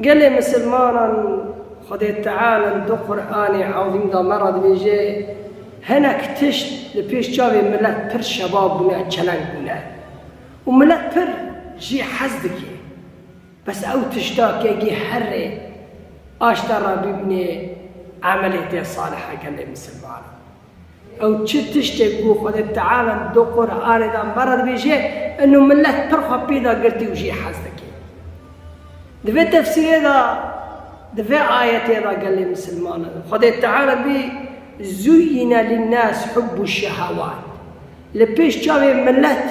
Gelê misilmanan Xwedê Teala li du Quranê Azîm de me re dibêje, Hinek tişt li pêş çavê milet pir şebab bûne, çeleng bûne û milet pir jî hez dike. Bes ew tişta ke gê herrê aşta re bibîne emelê tê saliha gelê misilmanan. Ew çi tiştê ku Xwedê Teala li do Quranê de me re dibêje, in û milet pir xwe pê da girtî û jî hez dike. Di vê tefsîrê de, di vê ayetê de gelê misilmanan Xwedê Teala bî Zuyine linnas hubbu şehewat li pêş çavê milet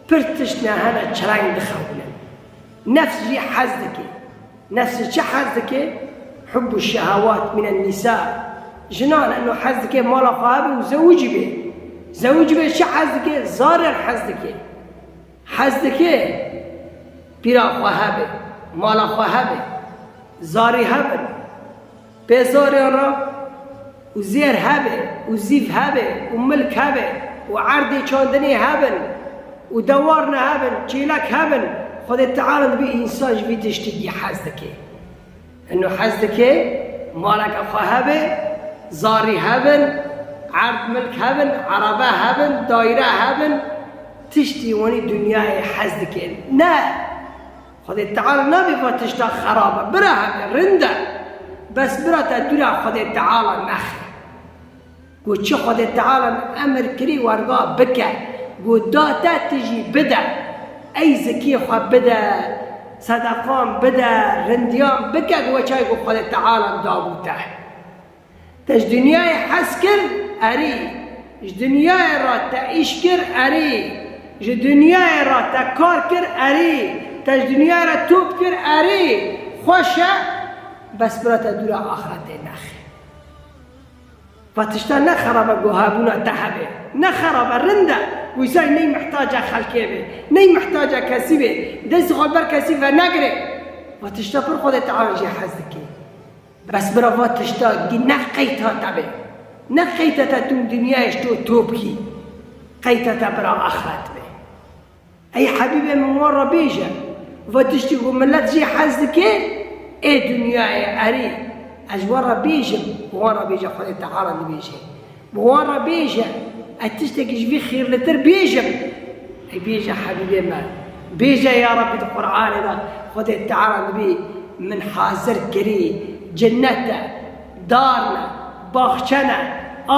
pir tişt ne hene çireng dixewinin. Nefs jî hez dike. Nefs ji çi hez dike? Hubbu şehawat minen nisa. Jinan eno hez dike mala xwe hebe û zewicî be. Zewicî be çi hez dike? Zarer hez dike. Hez dike pîra xwe hebe, mala xwe hebe, zarî hebin. Pê zorê ra û zêr hebe û zîv hebe û milk hebe û erdê çandinê hebin û dewar nehebin, çêlek hebin, Xwedê Teala dibê însan ji vî tiştikî hez dike. Ino hez dike maleke xwe hebe, zarî hebin, erd milk hebin, erebe hebin, dayîre hebin, tiştî wanî dinyayê hez dike. Ne! Xwedê Teala nabê vat tişta xerab e, bira heke, rind e. Bes bira te dûra Xwedê Teala nexe. Got çi Xwedê Tealan emir kirî werga bike, got da te tu jî bide. Ey zikiyê xwe bide, sedeqan bide, rindiyan bike bi weçayê ku Xwedê Tealan dabû te. Te ji dinyayê hez kir? Erî. Ji dinyayê re te îş kir? Erî. Ji dinyayê re te kar kir? Erî. Te ji dinyayê re top kir? Erî. Xweş e, bes bira te dûra axretê nexe. Va tiştan ne xerab e ku hebûna te hebe. Ne xerab e, rind e. Wisa ney mihtaca xelkê bê. Ney mihtaca kesî bê. Destê xwe li ber kesî venegire. Va tişta pir Xwedê teala jê hez dike. Bes bira va tişta gî ne qeyta te be. Ne qeyta te tûm dinyayê ji to top kî. Qeyta te bira axret be. Ey hebîbê min wan re bêje. Va tiştî ku milet jê hez dike ê dinyayê erê. Ez wan re bêjim û wan re bêje Xwedê Teala dibêje. Bi wan re bêje, Ez tiştekî ji vî xîrlitir bêjim. Ey bêje Hebîbê me, bêje ya Rebbî di Quranê de Xwedê Teala dibî min hazir kirî, cinnet e, dar ne, baxçe ne,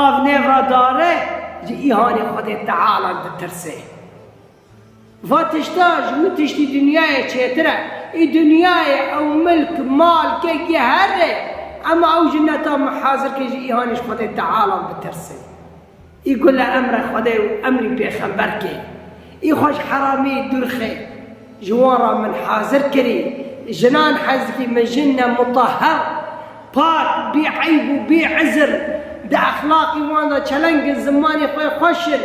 av nêv re dare, ji îhanê Xwedê Teala ditirsê. Va tişta ji min tiştî dinyayê çêtir e. Ê dinyayê ew milk, mal, kek yê herr e. Ema ew ji neta min hazir ke ji îhanê ji Xwedê Teala bitirsim. Ê ku li emre Xwedê û emrî pêxember ke ê xwe ji heramî dûrxe ji wan re min hazir kirî. Jinan hez dikî min jin ne mutahher. Par, bê eyb û bê izr, di exlaqê wan de çeleng in, zimanê xwe xweş in,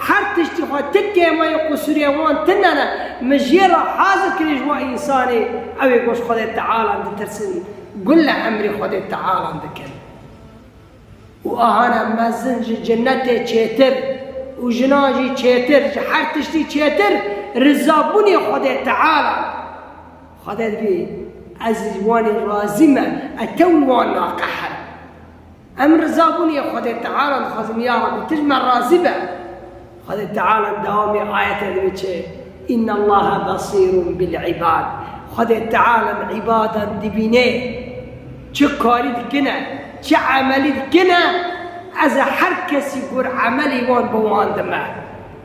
her tiştê xwe ti têmayê qusûrê wan tune ne, min jê re hazir kiriye ji wan însanê ew ê goş Xwedê Tealan ditirsin, gul li emrê Xwedê Tealan dikin. Û ahane mezin ji cinetê çêtir û jinan jî çêtir, ji her tiştî çêtir, rizabûnê Xwedê Tealan. Xwe dergî, Ez li Wanê razî me, ez tew li wan naqehim. Em riza bûnê yê Xwedê Teala dixwazin, ya Rabbî tu ji me razî be. Xwedê Teala dewamê ayetê dibiçe, Înnallâhe besîrûn bil-îbad, Xwedê Teala îbadan dibîne, çi karî dikine, çi emelî dikine, ez ê her kesî gor emelê wan bi wan dime.